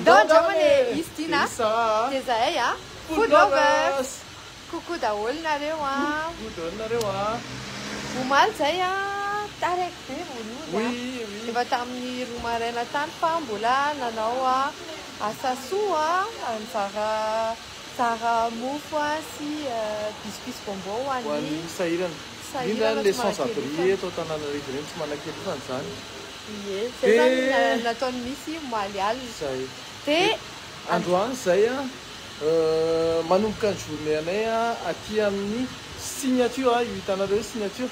Ndao andramana e Izy ty na dia zahay a Food lovers Coucou daholo nareo a Coucou daholo nareo a Omaly zay a Taraiky be vao nody a Efa tamin'ny roa maraina tany fa mbola nanao a asa soa a Nizara zara mofo a sy biscuits bonbon ho an'ny sahirana Indrindra any le sans abri eto Antananarivo ireny tsy manan-kery koa izany Ie, zay zany na- Dia- nataon'i Missy omaly alina. Zay. Dia Dia androany izay a, euh, manomboka ny journée anay a, aty amin'ny signature a, io hitanareo io signature,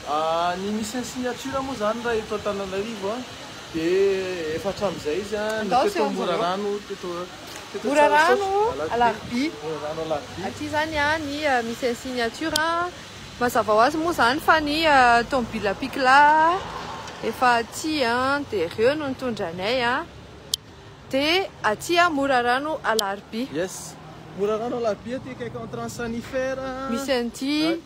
ah, ny mission signature moa zany raha eto Antananarivo a, dia efa hatramin'izay izy a, Andao teto seho anjareo. Morarano, teto, teto Morarano, Tsarasaosy, Alarobia. Alarobia, Morarano Alarobia. Aty zany a ny euh, mission signature a, Mazava ho azy moa izany fa ny tomobila pikla efa aty dia ireo no nitondra anay. Dia aty Morarano Alarobia. Yes, Morarano Alarobia aty akaiky entrance Sanifer. Misy an'ity.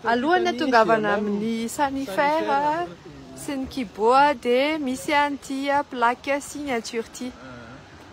Alohan'ny atongavana amin'ny Sanifer sy ny Kibo dia misy an'ity plaque signature ity.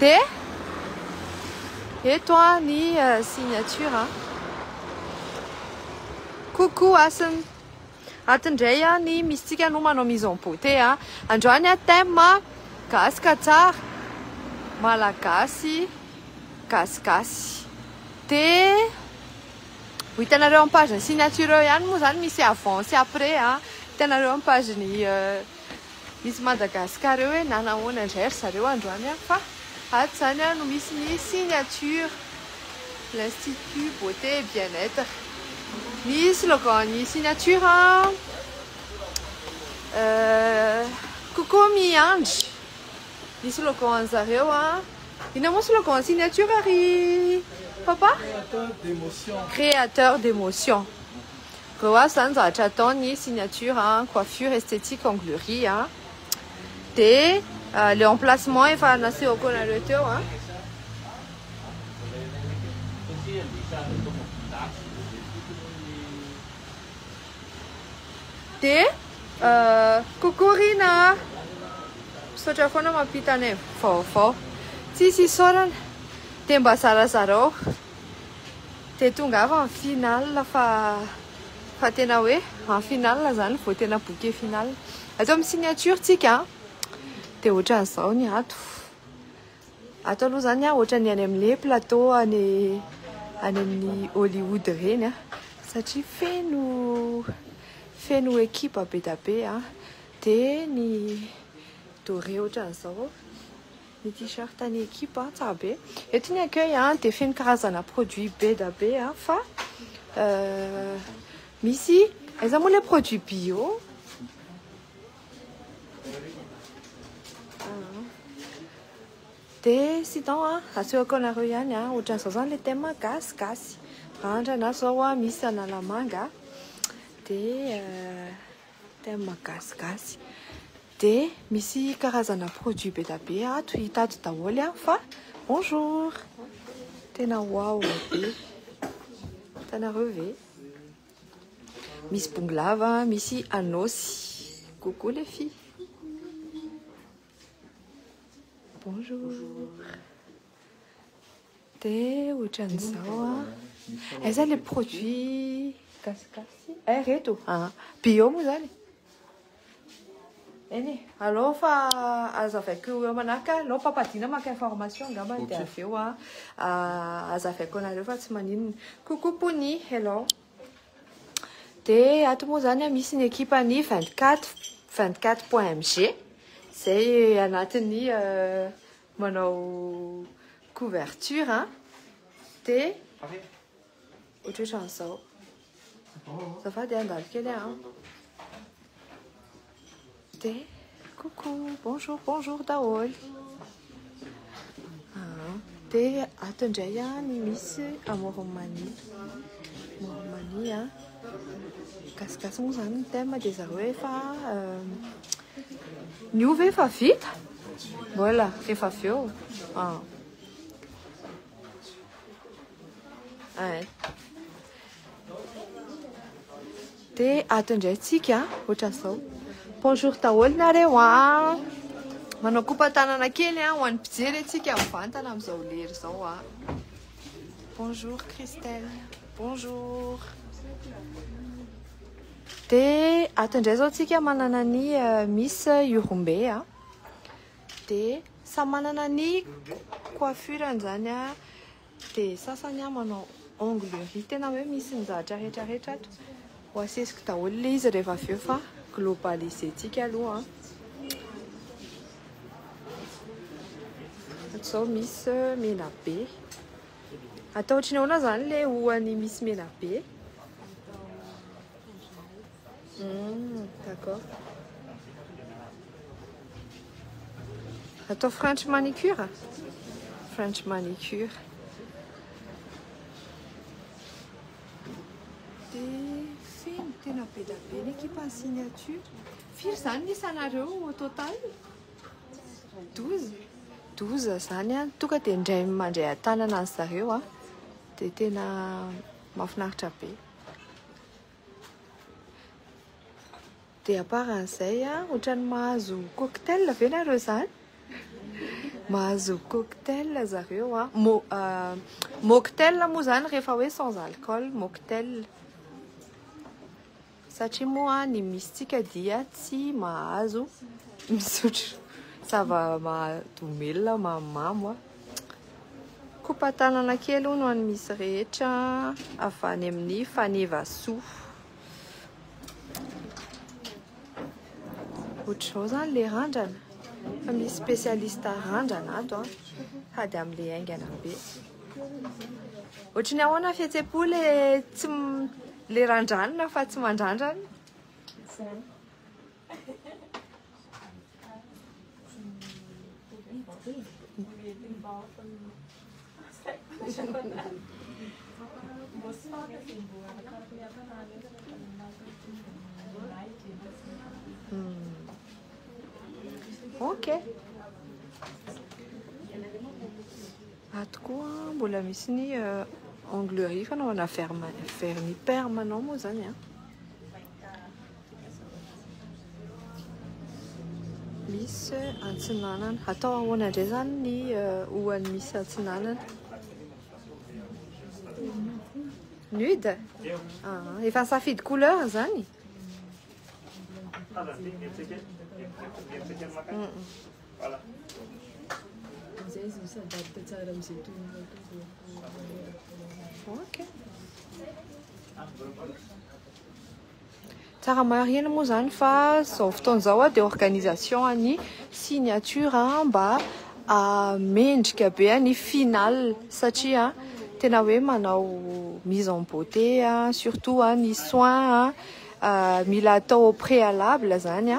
Dia eto ny signature. Coucou Hasina. Ato indray ny misintsika no manao mise en beauté. Androany thème gasy ka tsara, malagasy gasigasy. Dia ho hitanareo amin'ny page ny signature eo ihany moa izany misy avant sy après. Hitanareo amin'ny page ny. Miss Madagascar eo hoe na nahoana indray ry zareo androany an! fa ato izany an no misy ny signature l'institut beauté et bien être ny slogan ny signature an kokoa miandry ny slogan ny zareo an inona moa slogan ny signature ry papa? créateur d'émotion créateur d'émotion Reo azy zany zavatra ataony signature an, coiffure, esthétique, onglerie an, de le emplacement efa nasehoko anareo teo an. De coucou Rina a! Misaotra foana mampita anay vaovao. Tsisy isaorana, de mba zarazarao. dia tongava ny finale fa fa tena hoe en finale zany vao tena bouquet finale ato amin'ny signature tsika dia ohatran'izao ny ato ato aloha zany a ohatran'ny any amin'ny plateau any any amin'ny Hollywood ireny a satria feno feno ekipa be dia be a dia ny doré ohatran'izao Ny t-shirt ny equipe an, tsara be. Eto ny accueil an dia feno karazana produit be da be an, fa misy aiza moa ilay produit bio? Dia sinon an, asehoko anareo ihany an, ohatran'izao zany ilay thème gasy gasy. Randrana zao an, misy analamanga dia. thème gasigasy de misy karazana produit be da be ato hita ato daholo a fa bonjour tena waouh be hitanareo ve misy bongolava misy anôsy coucou les filles bonjour Dia ohatran'izao a. Aiza ilay produit gasigasy? Eh reto ah. Bio moa izany e. Eny e. Alao fa azavaiko eo manaraka. Alao papadina maka information angamba dia avy eo a. Ah, azavaiko anareo fa tsy maninona. Coucou Pony, hello. Dia ato moa izany misy ny ekipan'ny 24 24.mg. Izay anatin'ny euh, Manao couverture an, dia ohatrohatran'izao. Azafady an, andalo kely an. Dia coucou, bonjour, bonjour daholo. Dia ato indray an ny misy amoromania. Amoromania an. Gasigasy moa izany ny thème dia zareo efa Ny ovy efa vita? Mbola, rehefa avy eo. Ah. Ay. Dia ato indray tsika, ohatra izao. Bonjour daholo nareo ah. Manao kopa tanana kely ah, ho an'ny mpijery antsika mivantana amin'izao lery izao ah. Bonjour Christelle. Bonjour. Dia ato indray izao tsika manana ny Miss Urumbe a. Dia samy manana ny coiffure-ny izany a. Dia sasany a manao onglerie tena hoe misy ny zavatra rehetra rehetra ato. Ho asesiko daholo ilay izy rehefa avy eo fa globaliser-tsika aloha a. Ato izao Miss Menabe. Atao ohatry ny ahoana izany ilay hoany misy menabe? Hum, d'accord. Atao French manicure? French manicure. Dia feno tena be dia be ny ekipan'ny signature. Firy izany ny isanareo au total? Doza? Doza zany an, toka dia indray mandray an-tanana an'i zareo an, dia tena mafinaritra be. Dia aparan'izay an, ohatran'ny mahazo cocktail ve nareo zany? Mahazo cocktail zareo an, mo, uh, mocktail moa zany rehefa hoe sans alcool, mocktail. Satria moa ny misintsika dia tsy mahazo misotro zava-mahadomelina mamimamo a. Kopa-tanana kely hono an'ny misy rehetra avy any amin'ny fanevasoa. Ohatr'izao zany le randrana fa misy spécialiste randrana ato a, hady amin'le haingana be. Ohatry ny ahoana fihetsem-po le tsy le randranina fa tsy mandrandrana. Ok. Ato koa mbola misy ny onglerie fanaovana vernis permanent moa zany a. Misy antsinanana. Atao ahoana indray zany ny ohan'ny misy antsinanana? Nude? Ah, efa nisafidy couleur zany? Tsara marihina moa izany fa izao fotoana izao dia organisation an'ny signature mba mendrika be ny final satria tena hoe manao mise en beauté surtout ny soins mila atao au préalable zany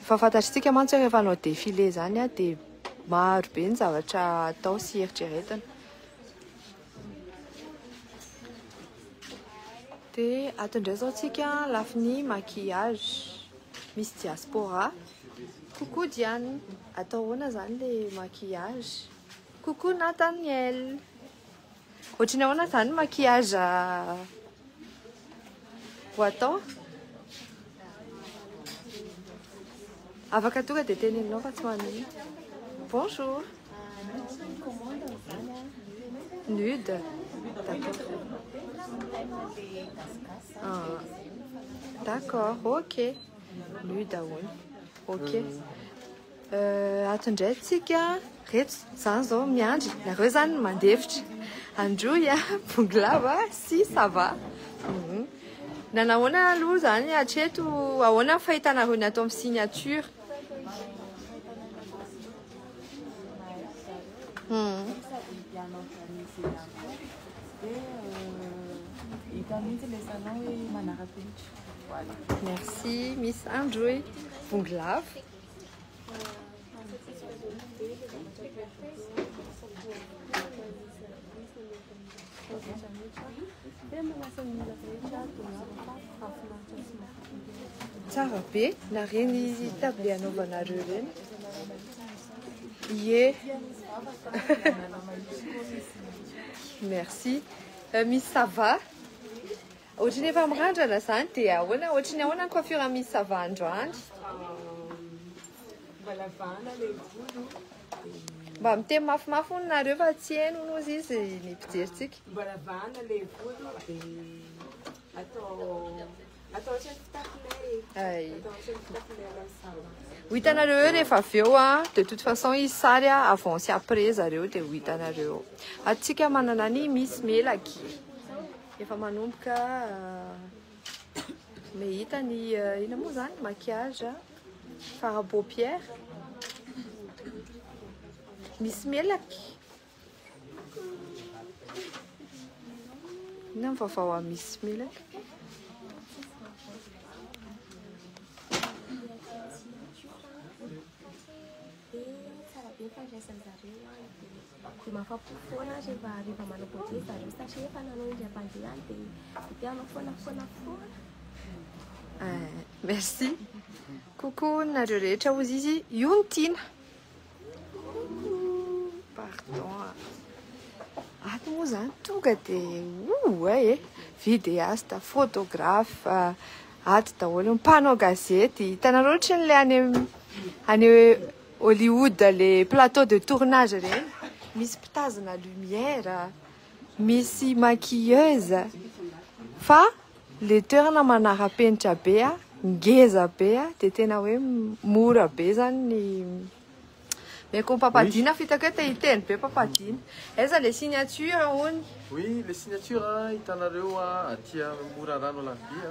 fa fantatr'tsika mantsy rehefa hanao défilé zany dia maro be ny zavatra atao sy eritreretina dia ato indray zao tsika lafiny maquillage misy diaspora Coucou Diane, atao ahoana zany le maquillage? Coucou Nathaniel, ohatry ny ahoana zany maquillage ho atao? Afaka tonga dia teneninao fa tsy ho an'iny. Bonjour. Nude. D'accord. Ah. D'accord, ok. Nuit daholo. Ok. Euh, ato indray tsika. Reto, zany zao miandry. Nareo zany mandefitra. Androy a, bonglava si ça va. Mhm. Nanahoana aloha zany hatreto ahoana ny fahitanareo ny ato amin'ny signature? Hmm. Hita mihitsy ilay salon hoe manara-penitra. Voilà. Merci Miss Andrew. Bongo lava. Tsara be, nareny table anaovanareo ireny. Ie. Merci. Euh, Miss Sava. Ohatry ny efa mirandrana zany dia ahoana ohatry ny ahoana ny coiffure misy ça va androany? Mba lavana le volo. Mba miteny mafimafy hono nareo fa tsy heno hono ozy izy ny mpijeritsika. Mba lavana le volo de atao atao ohatry ny fitafinay. Ay. Atao ohatry ny fitafinay la ça va. Ho hitanareo eo rehefa avy eo a, de toute façon izy sary a, avant sy après zareo de ho hitanareo. Atsika manana ny misy melaky. Efa manomboka mehita ny ina moa zany maquillage fara paupière. Misy melaky. Ina ny vaovao amin'ny misy melaky. Dia mahafa-po foana aho rehefa rehefa manao projet ry zareo satria efa nanao indram-pandeha aho dia dia te hanao foana foana foana. Merci. Coucou nareo rehetra hozy izy. Io ny tiana. Pardon. Ato moa zany tonga dia oa e. Vidéaste, photographe, ato daholo mpanao gazety. Hitanareo ohatran'ilay any any Hollywood le plateau de tournage ireny misy mpitazona lumière misy maquilleuse fa le toerana manarapenitra be a ngeza be a de tena hoe mora be zany ny meko mpampadiana fa hitako hoe te hiteny be mpampadiana aiza le signature hono oui le signature hitanareo aty mora rano la vie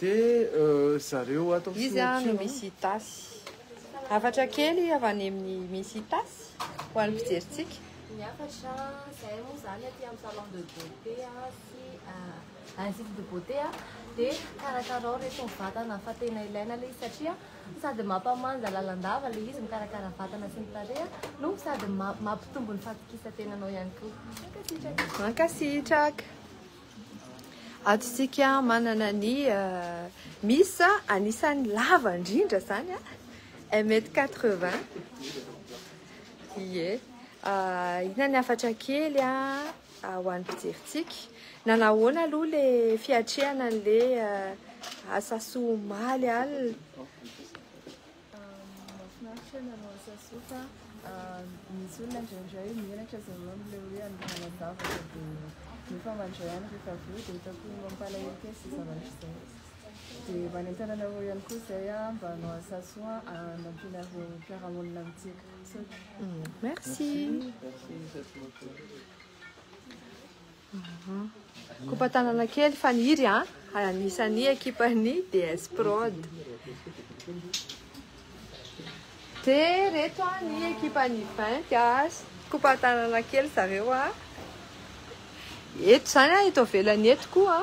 Dia zareo ato amin'ny Iza no Miss Itasy? Hafatra kely avy any amin'ny Miss Itasy ho an'ny fijerintsika. Ny hafatra, izahay moa izany aty amin'ny salon de beauté sy institut de beauté dia karakarao ireto ny vatana fa tena ilaina ilay izy satria sady mampamanja lalandava ilay izy mikarakara vatana sy ny tarehy no sady mampitombo ny fatokisan-tenanao ihany koa. Mankasitraka. Mankasitraka. Ato isika manana ny mis anisan'ny lava indrindra zany a un mètre quatre vingt ie inany hafatra kely a ho an'ny fijerintsika nanahoana aloha le fiatrehana le asasoa maly alina Mahafinaritra ny hanao asa soa fa misy olona indraindray menatra aza ianao amin'ilay hoe handeha hanadavaka dia nefa mandray any rehefa avy eo dia hitako mampalahelo kely izay zavatra izay. Dia manentana anareo ihany koa izay mba hanao asa soa hanampianareo mpiara-monina amintsika. Misaotra. Merci. Kopatanana kely Faniry a, anisan'ny ekipan'ny DS Prod. Dia reto a ny ekipan'ny Vinty a, kopatanana kely zareo a. Eto zany a, eto avelany eto koa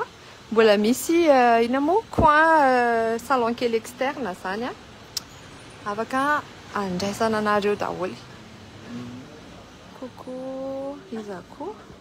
mbola misy euh, ina moa coin euh, salon kely externe zany a. Afaka andraisana anareo daholo. Coucou, iza koa?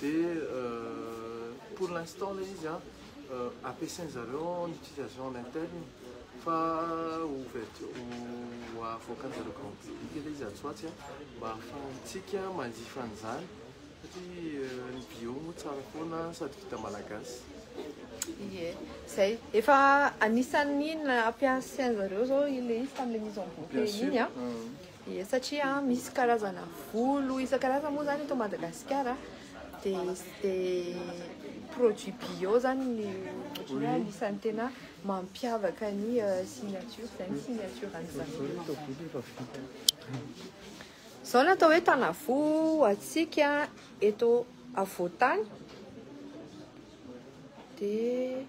Dia pour l'instant ilay izy an, ampiasain zareo en utilisation en interne fa ho ouverture ho avoakan zareo grand public ilay izy atsy ho atsy an, mba ahafahantsika manjifa an'izany satria ny bio moa tsara foana sady vita malagasy. Ie, zay. Efa anisan'ny nampiasain zareo zao ilay izy tamin'ilay mise en bouteille iny an. Ie, satria misy karazana volo isan-karazany moa zany eto Madagasikara de de produit bio zany ny ohatran'ny hoe anisan'ny tena mampiavaka ny euh, signature, zay ny signature an'i zareo. Zao no atao hoe Tanavo antsika eto afovoan-tany de.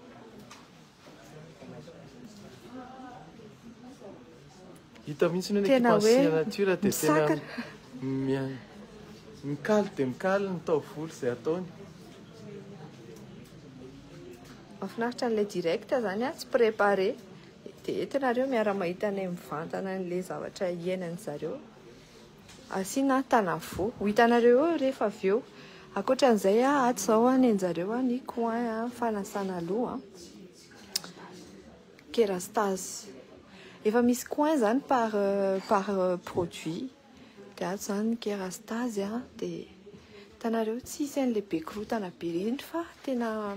Hita mihitsy ny équipe en signature dia tena mikaly dia mikaly ny taovolo izay ataony. Mahafinaritra an'ilay direct izany tsy préparé. Dia eto ianareo miara-mahita anay mivantana an'ilay zavatra iainan'ny zareo. Asiana tanavoa. Ho hitanareo eo rehefa avy eo. Ankoatran'izay, ato izao ny anjareo ny coin fanasana loha. Kerastase. Efa misy coin izany par par produit. Dia ato izany ny kerastase. Dia hitanareo tsy hisy an'ilay be korontana be ireny fa tena.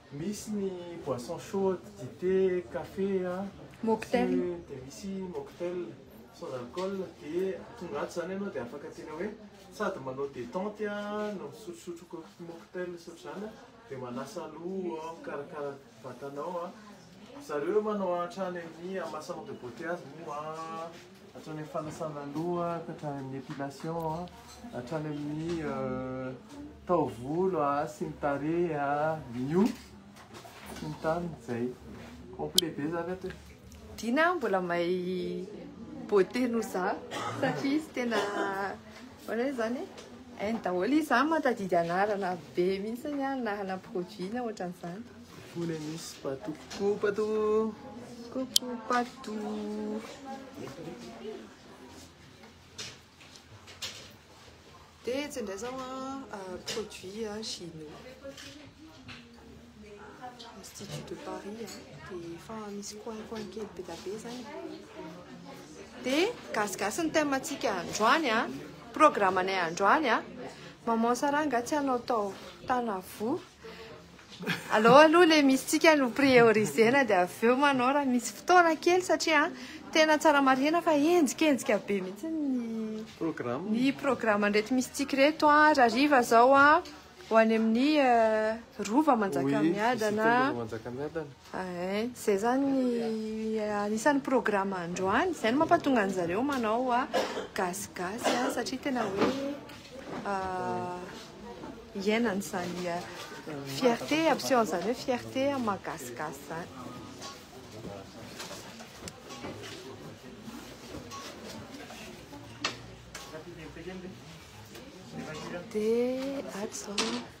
Misy ny boisson chaude, dite, café, mocktail, dia misy mocktail sans alcool, dia tonga ato izany ianao dia afaka tena hoe sady manao détente no misotrosotro mocktail sy ohatr'izany dia manasa loha, mikarakara vatanao, zareo manao hatrany amin'ny massage de beauté azy moa. Hatrany amin'ny fanasana loha ka hatrany amin'ny épilation, hatrany amin'ny taovolo sy ny tarehy, ny hoho sy ny tariny, izay. Complet be izany ato e! Dina a, mbola mahay beauté noho za satria izy tena manao hoe zany e? Hainy daholo izy, za mahatadidy anarana be mihitsy na hanam-produit na ohatran'izany. Mivona misy patou coucou patou. Coucou patou. Dia tsendray zao an produit an chinois. Institut de Paris an dia efa misy coin coin kely be da be zany. Dia gasigasy ny thème antsika androany an. Programme anay androany an. Maman Sarah nga tsy hanao tao Tanavoa. Alou aloha le misy tsika no priorisena dia avy eo manao raha misy fotoana kely satria tena tsara marihina fa henjikenzika be mihitsy ny programme ny programme ndreto misy tsika reto a raha riva zao a ho any amin'ny euh, rova manjakamiadana Eeh, zay zany ny anisan'ny programme androany, zay no mampatonga an'i zareo manao gasigasy an, satria tena hoe hiainana izany fierté ampiseho an'izany hoe fierté amin'ny maha gasigasy izany. Dia ato izao.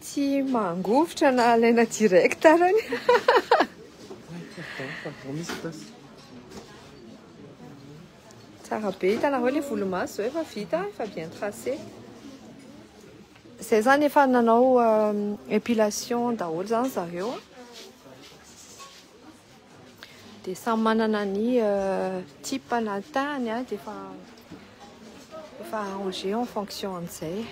Tsy mangovitra na alaina direct ara ny Tsara be, hitanareo ilay volomaso izao efa vita, efa bien tracé. Izay zany efa nanao epilation daholo zany zareo. Dia samy manana ny type na ny tahany dia efa efa arrangé en fonction an'izay.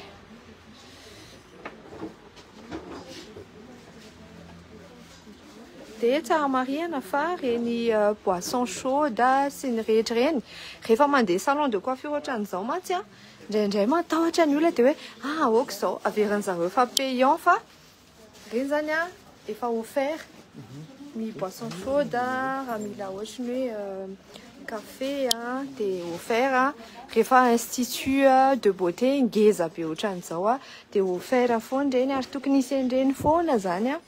Dia tsara marihana fa reny boisson chaude sy ny rehetra ireny rehefa mandeha salon de coiffure ohatran'izao mantsy a, indraindray matahotra ny olona dia hoe ah aoka izao, averin'ny zareo fa payant fa Ireny zany an efa offert ny boisson chaude raha mila ohatry ny hoe café an dia offert an rehefa institut de beauté ngeza be ohatran izao an dia offert foana ireny ary tokony hisy an'ireny foana zany an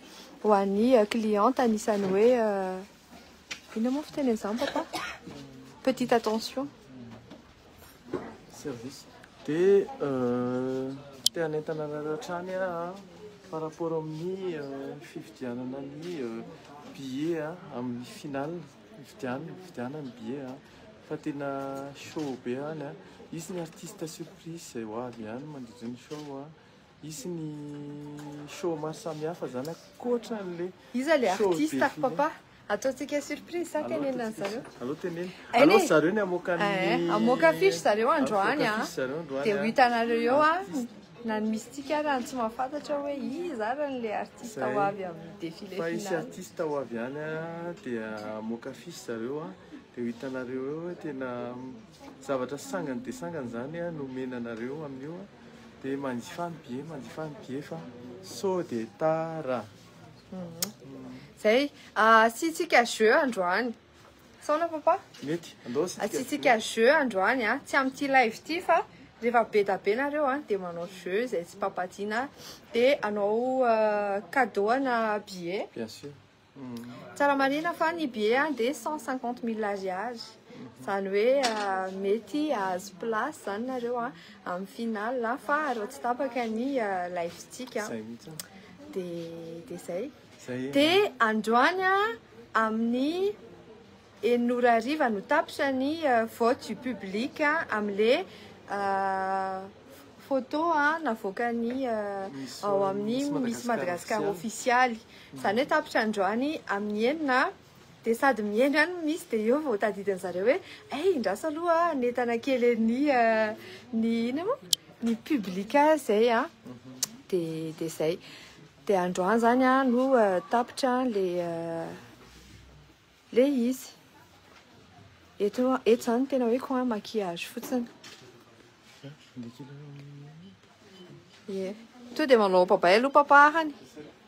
ho an'ny cliente anisan'ny hoe inona moa fiteny an'izany papa petite attention. service de te hanentana anareo hatrany aho par rapport amin'ny fividianana ny billet amin'ny final fividianana fividianana ny billet fa tena show be any izy ny artiste surprise izay ho avy ihany mandritra ny show Hisy ny show maro samihafa zany ankoatra an'le Iza le show artiste be ry fine. papa? Ataontsika surprise sa Alao tenenina ataontsika zareo? sur- Alao tenenina. Hainee. Alao ry zareo ny hamoaka ny Eh, hamoaka affiche zareo androany Hamoaka an. affiche zareo androany, Dia ho an. hitanareo eo Ny an, artiste. na ny mistika ary ny tsy mahafantatra hoe iza ary ny le artiste Zay. ho avy amin'ny défilé Fa hisy final. artiste ho avy any an, dia hamoaka affiche zareo an, dia ho hitanareo eo hoe tena zavatra sangany dia sangany zany an no omena anareo amin'io an. Dia manjifa ny bye, manjifa ny bye fa sao dia tara. Zay, asiantsika jeu androany. Saona papa? Mety, andao asiantsika. Asiantsika jeu androany a, tsy amin'ity live ity fa rehefa be da be nareo a dia manao jeu zay tsy papa Dina dia anao cadeau ana billet. Bien sûr. Tsara marihina fa ny billet dia cent cinquante mille ariary, izany hoe mety hahazo place izany nareo amin'ny final fa raha tsy tapaka ny live-tsika dia dia izay. Dia androany amin'ny. Enina ora hariva no tapitra ny vote du public amin'le photo navoakan'ny ao amin'ny Miss Madagascar official. Izany hoe tapitra androany amin'ny enina dia sady mihaino ihany ny Miss dia eo vao tadidiny zareo hoe eh indraso aloha hanentana kely an'i ny ina moa? Ny public izay an! Dia dia izay. Dia androany izany no tapitra ilay. Le izy. Eto eto zany tena hoe quoi maquillage fotsiny. Ye. To dia manao papay aloha papa hany.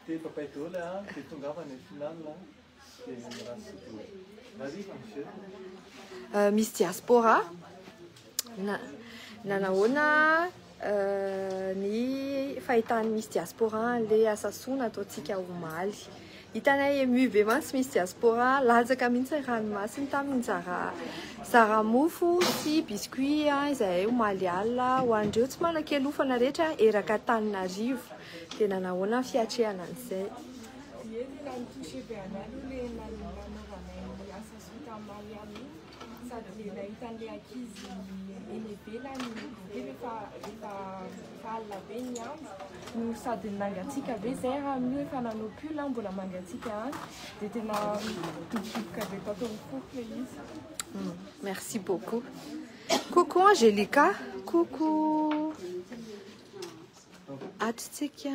Dia papay daholo le hany dia tongava any final a. Dia mirasy daholo. Marivo ny jeu. Misy diaspora Na, nanahoana ny fahitany misy diaspora an'ilay asa soa nataontsika omaly. Hitanay ému be mantsy misy diaspora, latsaka mihitsy ny ranomasiny tamin'ny zara, zara mofo sy biscuit izahay omaly alina ho an'ireo tsy manan-kialofana rehetra eraka Antananarivo. Dia nanahoana ny fiatrehana an'izay? Dieny ilay mitouché be anay aloha ilay nanaovanay ny asa soa tamin'ny Maria aloha. sady nahitan'ilay ankizy eny ivelany dia rehefa rehefa alina be ny andro no sady nangatsiaka be zay raha amin'io efa nanao pull aho mbola mangatsiaka any dia tena dobodoboka be tato amin'ny foko ilay izy hmm, merci beaucoup coucou Angelica coucou atritsika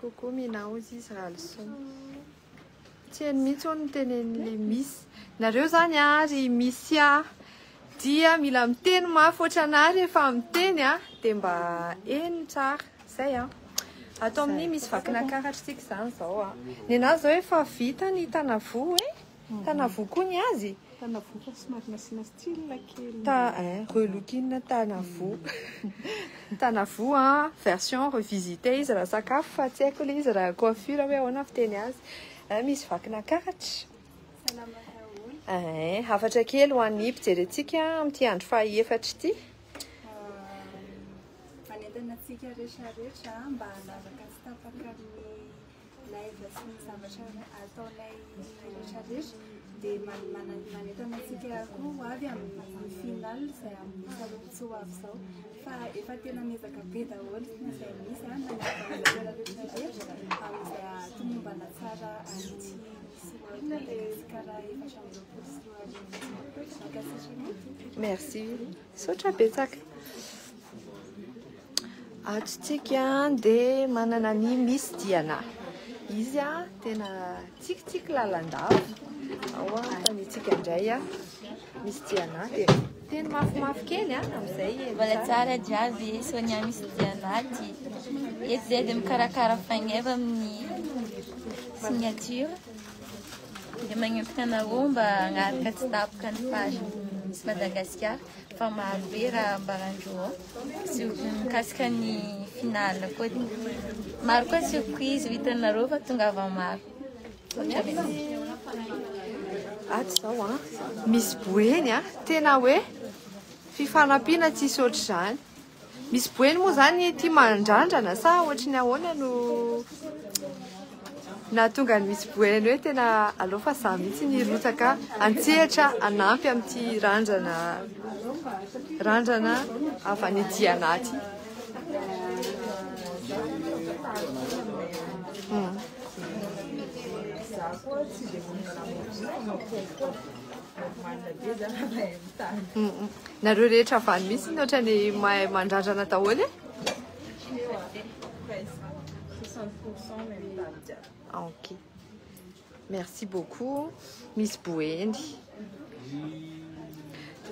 Coucou Mina ozy izy raha lison. Tsy eny mihitsy hono ny tenenin'le misy. Nareo zany ary misy a dia mila miteny mafy ohatranary efa miteny a dia mba eny tsara zay a. Ato amin'ny misy vakina karatra tsika zany zao a. Nenazy zao efa vita ny tanavoa e. Tanavoa koa ny azy? Tanavoa fa somary nasiana style kely. Ta eh, relookinn Tanavoa. Tanavoa version revisitée izy raha sakafo fa tsy haiko ilay izy raha coiffure hoe ahoana fiteny azy. Eh, misy vakina karatra. Salama daholo. Eh, hafatra kely ho an'ny mpijery antsika amin'ity andro fahaefatra ity. Manentana antsika rehetra rehetra mba hanaraka tsy tapaka amin'ny Live sy ny zavatra ataonay rehetra rehetra dia manentana antsika koa ho avy amin'ny final izay amin'ny taloha tsy ho avy izao fa efa tena miezaka be daholo izay misy a na zavatra rehetra rehetra amin'izay hatomombana tsara an'ity Merci. Sotra betsaka. Ato isika dia manana ny Miss Diana. Izy a tena tsikitsiky lalandava. Ao a fanitsika indray a. Miss Diana dia teny mafimafy kely a amin'izay. Mbola tsara jiaby Sonia Miss Diana ty. Eto dia dia mikarakara faingeva amin'ny signature. Dia magnentana anareo mba hanaraka tsy tapoka ny page Miss Madagasikara. Fa maro be raha ambaran-dry ô. Surprise mikasika ny finale koa. Maro koa surprise ho hitanareo fa tongava maro. Misaotra betsaka. Ato izao an, misy boeny an, tena hoe fifanampiana tsisy ohatr'izany. Misy boeny moa zany ity mandrandrana sa ohatry ny ahoana no nahatonga ny misy boeny hoe tena aleo fa za mihitsy ny hirotsaka antsehatra anampy amin'ity randrana randrana avy any aty anaty. Hmm. Nareo rehetra avy any mihitsy ohatrany mahay mandrandrana daholo e. Ah, ok. Merci beaucoup Miss Boeny.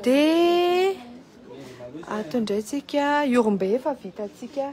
Dia ato indray tsika Yorombe efa vitantsika.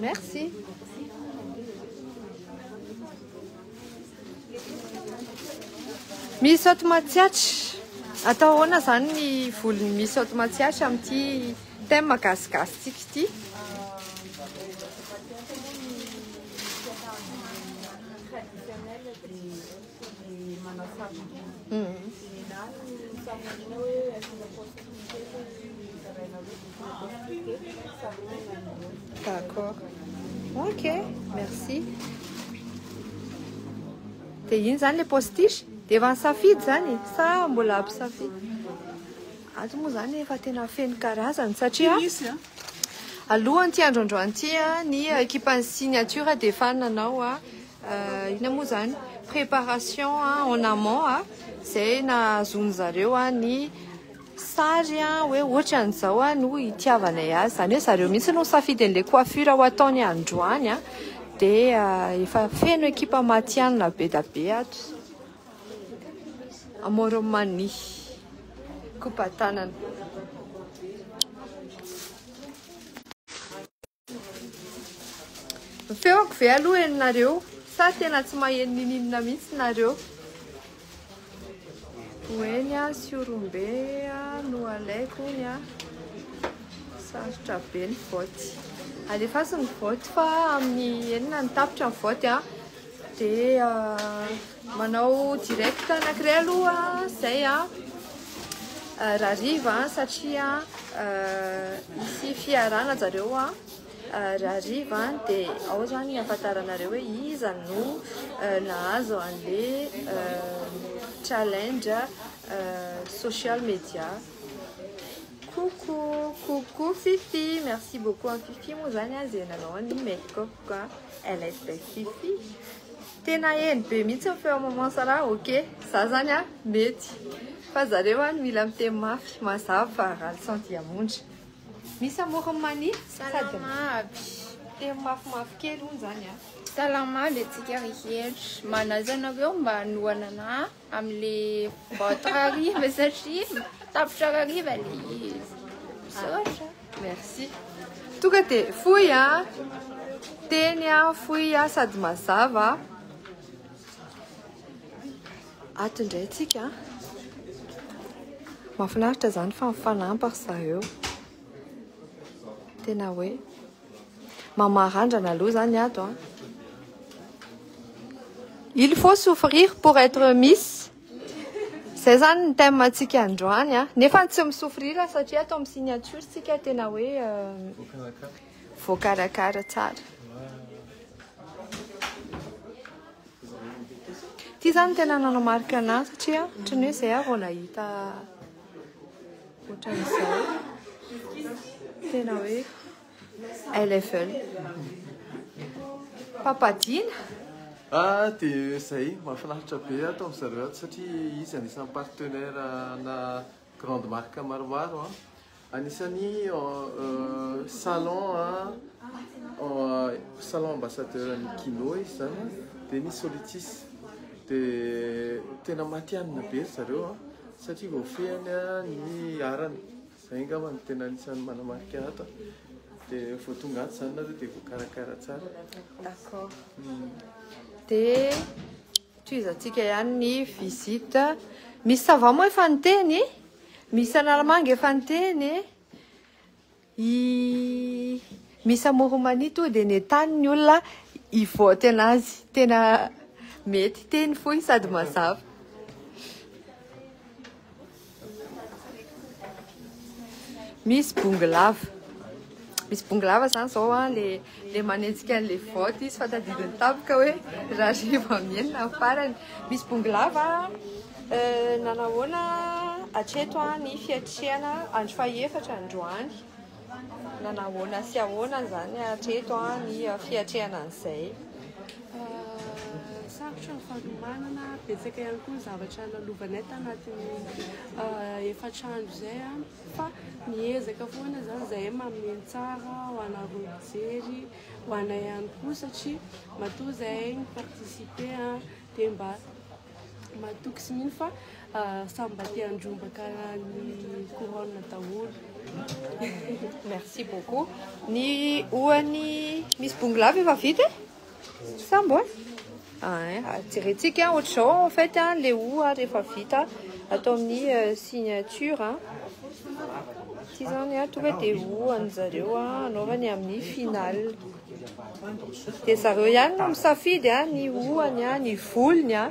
Merci. Misy ato matsiatra. Atao ahoana izany ny volony misy ato matsiatra amin'ity thème gasigasitsika ity? D'accord. Ok, merci. Dia iny izany ilay postiche? Dia efa nisafidy izany sa mbola mpisafidy? Ato moa izany efa tena feno karazany satria Alohan'ity andro androany ity, ny ekipan'ny signature dia efa nanao inona moa izany préparation en amont izay nahazoan'ny zareo ny sary hoe ohatran'izao no hitiavanay azy, izany hoe zareo mihitsy no nisafidy an'ilay coiffure ho ataony androany dia efa feno ekipa matihanina be dia be ato. Amoromani, Kopatanana. Feoko ve aloha ianareo sa tena tsy maheno nininona mihitsy nareo? Hoeny a siorombe a no alaiko ny a sarotra be ny vote. Alefaso ny vote fa amin'ny enina ny tapitra ny vote a. Dia manao direct anankiray aloha izay rahariva satria hisy fiarana zareo rahariva dia ao izany hafantaranareo hoe iza no nahazo an'ilay challenge social media. Coucou, coucou Fifi, merci beaucoup an'i Fifi moa zany an zay nanao ny make up an, elle est belle Fifi. Tena heno be mihitsy ny feo maman Sarah, ok, za zany an mety fa zareo an mila miteny mafy mazava fa rally sans diamondra. Misy amorony mania sady miteny mafimafy kely hono zany an. Salama aby antsika rehetra, manaja anareo mba hanohanana ahy. Amle vao trariva satria tapitra rariva le izy. Misaotra. Merci. Tonga de fohy a. Teny a, fohy a sady mazava. Ato ndray tsika. Mahafinaritra zany fa mifanampy ry zareo. Tena hoe Maman randrana aloha zany ato a. Il faut souffrir pour être miss. Zay zany ny thème antsika androany a. Nefa tsy mi-souffrir satria ato amin'ny signature tsika tena hoe voakarakara tsara. Ty zany tena nanamarika anahy satria ohatran'ny hoe zay aho vao nahita Ohatran'izao, tena hoe LFL. Papadina? Ah, dia izay, mahafinaritra be ato amin'ny zareo ato satria izy anisan'ny partenaire ana grande marque maromaro. Anisan'ny salon salon ambassadeur an'i Kino izy izany dia ny Solitis. Dia tena matihanina be ry zareo. satria voafehiny ny arany, izay angamba no tena anisan'ny manamarika ato, dia vao tonga ato izany nareo dia voakarakara tsara. D'accord. Hmm. Dia tohizantsika ihany ny visite. Misy sava moa efa niteny, misy analamanga efa niteny. I Miss Amoromani toa dia nentany ny olona hivote anazy. Tena mety, teny fohy sady mazava. Miss Bongolava. Miss Bongolava zany zao an le Dia manenjika an'ilay vaoty izy fa tadidy ny tampoka hoe raha rehefa mienina ny farany. Misy bongo lava eh, nanahoana hatreto ah, ny fiatrehana andro fahefatra androany. Nanahoana sy ahoana izany hatreto ah, ny fiatrehana an'izay. Sarotra ny fanomanana, betsaka ihany koa ny zavatra nalovanay tanatin'ny efatra andro izay. fa miezaka foana zany zahay mamehy ny tsara ho anareo mpijery, ho anay ihany koa satria matoa zahay mi participer a dia mba matoky sy mino fa samy mba te handrombaka ny couronne daholo. Merci beaucoup. Ny ohan'ny Miss Bongolava efa vita e? Sambo eh? Ah, jerentsika ohatr'izao en fait an, le o ary rehefa vita atao amin'ny signature an. Ity izany an, tonga dia o an'ny zareo an, anaovany amin'ny final. Dia zareo ihany no misafidy an, ny o-any an, ny volony an.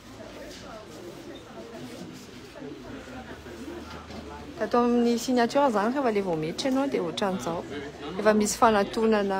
Tato amin'ny signature izany rehefa ilay vao miditra ianao dia ohatran'izao. Efa misy fanatonana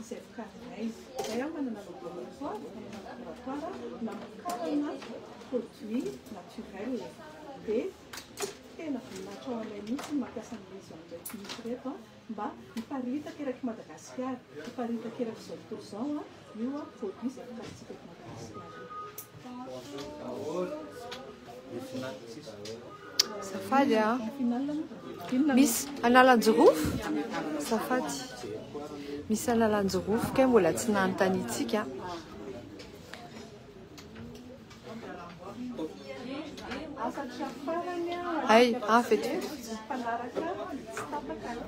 izay vokarinay. Izay aho manana laboratoire, manana laboratoire namokarana produit naturel. Dia tena voninahitra ho anay mihitsy ny mampiasa ny maison ireto mihitsy ireto an, mba hiparitaka eraky Madagasikara, hiparitaka eraky izao tontolo izao io produit izay vokarintsika eto Madagasikara io. Azafady a. Misy analanjirofo? Azafady. Misy analanjirofo kay mbola tsy nanontaniantsika. Ay, ah, fety.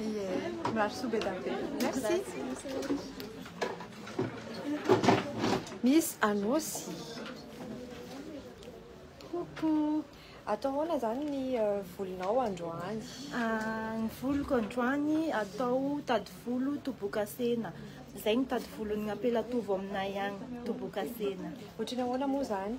Ie, mirary soa be dia be. Merci. Miss Anosy. Coucou. Atao ahoana zany ny euh, volonao androany? Ah, ny voloko androany atao tady volo tobokasena. Zay ny tady volon'ny ampelatovo aminay agny, tobokasena. Ohatrany ahoana moa zany?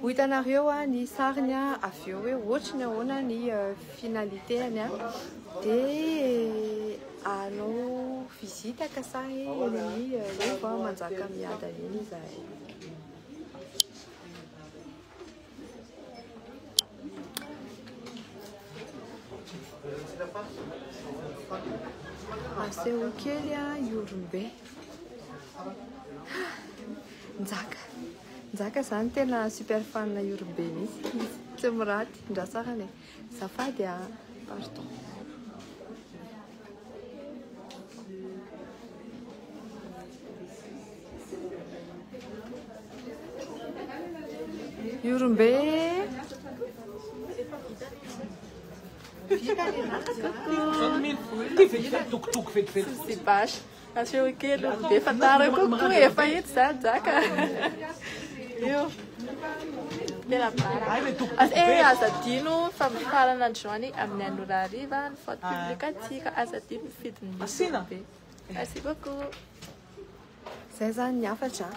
Ho hitanareo ny sariny avy eo hoe ohatry ny ahoana ny finalitéany a. Dia hanao visite ka sa eny amin'ny Rova Manjakamiadana eny izahay. Aseho kely Ihorombe. Njaka. Njaka zany tena super fan io ry be mihitsy tsy miraty ndra tsara le zafady a pardon io ry be Coucou. C'est bâche. Aseo kely olo be fa tara kokoa efa itsy za jaka io tena bara as e eh, aza dino fa mifarana ny joany amin'ny anora ariva ny faute ah. publique atsika aza dino mifidy ny asina be merci beaucoup zay zany ny hafatra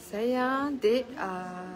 zay a ah, dia ah,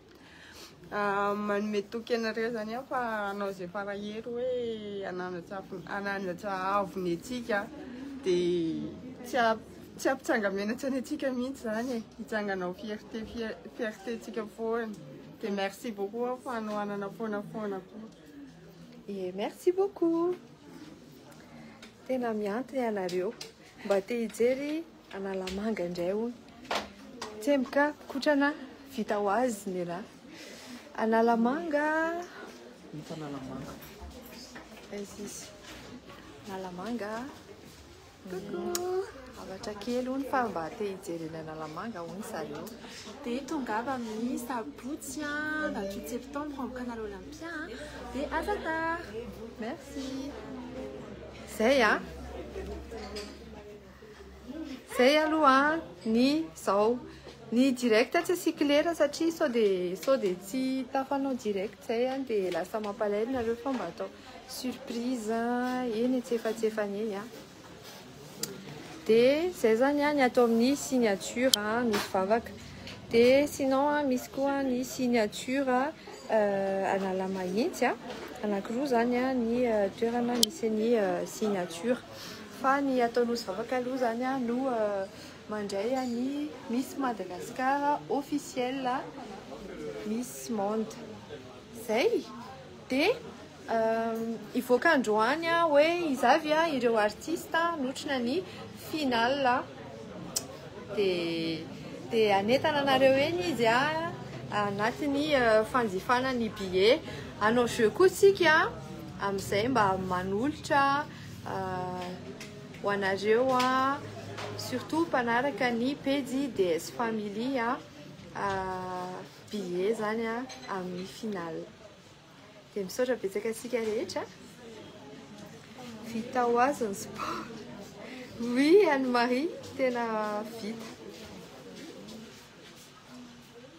Manome toky anareo zany aho fa hanao izay farahery hoe hananatra hananatra avo ny antsika dia tsy a tsy ampitsanga-menatra ny antsika mihitsy zany e hitsangana ho fierté fier- fierté-ntsika foana dia merci beaucoup aho fa hanohanana foana foana koa e merci beaucoup tena mianto ny anareo mba te hijery Analamanga indray hono. Tsemboka kotrana vita ho azy ny rà. Analamanga. Hita Analamanga. Aiza izy? Analamanga. Coucou. Avatra kely hono fa mba te hijery eny Analamanga hono zareo. Dia tongava amin'ny sabotsy 28 septembre amin'ny Canal Olympia. Dia à ta tard. Merci. Zay ah. Zay aloha ny zao. Ny direct tsy asiako lera satria sao dia sao dia tsy tafanao direct zay an dia lasa mampalahelo nareo fa mba atao surprise eny e tsy efa tsy efa eny an. Dia zay zany an ny atao amin'ny signature an misy vavaka. Dia sinon an misy koa ny signature analamahitsy an anankiroa zany an ny toerana misy ny signature. Fa ny atao nosy vavaka aloha zany a no mandray an'i Miss Madagascar officiel Miss Monde zay de hivoaka androany a hoe iza avy a ireo artista notrona ny finale de de hanentana anareo eny izy a anatin'ny fanjifana ny billet hanao jeux koa tsika amizay mba manolotra ho anareo surtout mpanaraka ny pejy DS Family billet zany amin'ny final dia misaotra betsaka antsika rehetra vita ho azy ny sport oui Anne Marie tena vita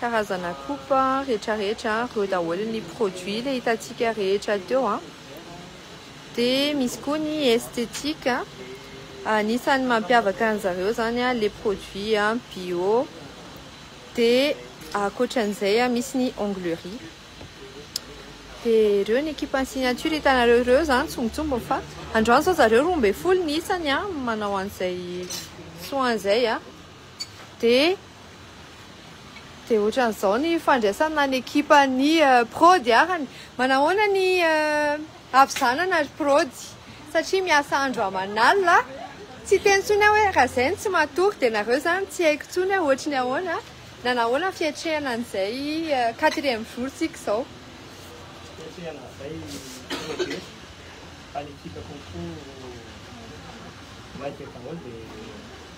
Karazana coupe retraretra reo daholo ny produit le hitantsika rehetra teo a! de misy koa ny esthétique anisany mampiavaka ny zareo zany a le produit bio de akotran'izay a misy ny onglerie de reo ny ekipa ny signature hitanareo reo zany tsongotsongony fa androany zao zareo roa ambin'ny folo ny isany a manao an'izay soin zay a de Dia ohatran'izao ny fandraisana ny ekipan'ny prod arany. Manahoana ny havizanana ry prod? Satria miasa andro aman'alina. Tsy hiteny intsony aho hoe raha izay no tsy matory dia nareo izany tsy haiko intsony hoe ohatry ny ahoana na nahoana ny fiatrehana an'izay quatrième jour tsika izao. Fiatrehana an'izay prod e! Fa ny ekipako koa maika daholo dia.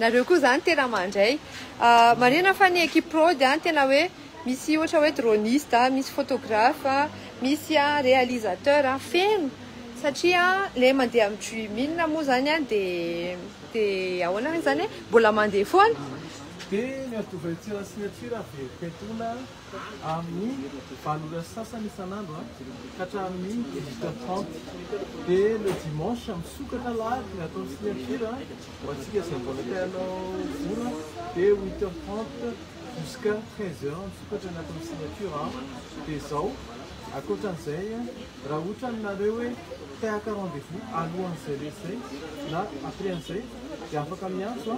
Nareo koa zany tena mandray. Marihina fa ny equipe prod an tena hoe misy ohatra hoe droniste an, misy photographe an, misy an realisateur an, feno satria le mandeha amin'ny dreaming moa zany an de de ahoana zany e mbola mandeha foana. Dia ny antovaintsika signature an, very petona. amin'ny valo ora sy sasany isan'andro ka hatramin'ny dix-huit heures trente. Dia le dimanche misokatra alahady ny ataon'ny signature ho antsika izay mbola te hanao vola dia huit heures trente jusqu'à treize heures misokatra ny ataon'ny signature. Dia izao, ankoatra an'izay raha ohatra aminareo hoe te haka rendez-vous alohan'izay le izay na après an'izay dia afaka miantso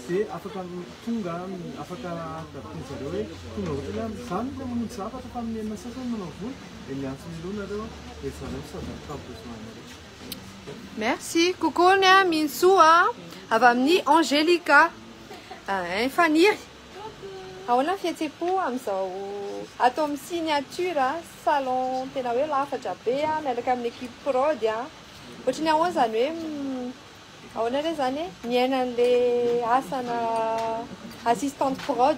dia afaka Tonga afaka tadidio zareo hoe tonga ohatrany hoe zany le mamonjy zavatra fa amin'ny enina sasany manao vola de miantso Milou nareo de zareo misava ny cas besoin anareo. Merci kokony a Mintsou a avy amin'ny Angelica hein Faniry Ahoana ny fihetsem-po amin'izao ato amin'ny Signature salon tena hoe lafatra be a miaraka amin'ny équipe prod a Ohatry ny ahoana izany hoe Ahoana re zany e? Miaina anle asana assistante prod?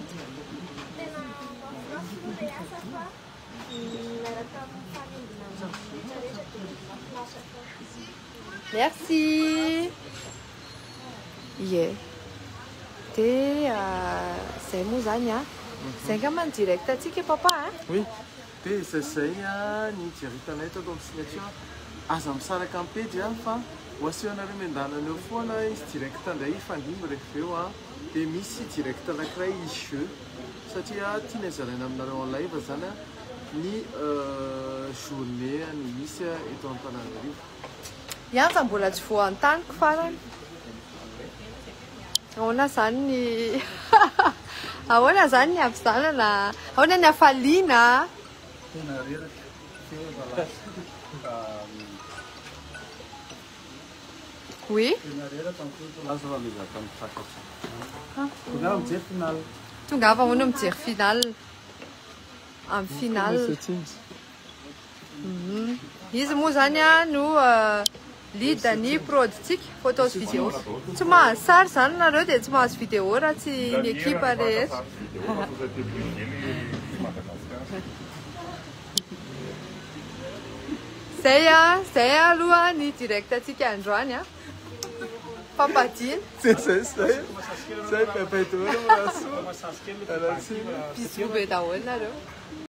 Tena mafinaritra moa le asa fa miaraka amin'ny fanembona ny rehetra rehetra dia mafinaritra foana. Merci. Ie. De zay moa zany a. Zay angamba ny direct antsika papa a. Oui. Dia izay izay ny hijeritana eto atao signature aza misaraka ny pejy an fa ho asehonareo miandalana eo foana izy direct indray hifandimby rehefa eo an dia misy direct anankiray izy jeu satria tiany hazaraina aminareo en live izany ny journée ny misy eto Antananarivo Iany fa mbola tsy voantaniko farany. Ahoana zany ny ahoana zany ny havizanana a? Ahoana ny hafaliana a? Tena reraka teo zalahy. Oui. Tena reraka ny tontolo. Aza fa mizaka mitsakatra. Tongava mijery finale. Tongava ahoana mijery finale? Amin'ny finale. Izy moa zany a no lead ny prod tsika photos video tsy mahazo sary zany nareo de tsy mahazo video raha tsy ny ekipa rehetra zay a zay aloha ny direct atsika androany a fampadiana zay zay zay zay bebe dolo rasoa ratsina bisu be daholo nareo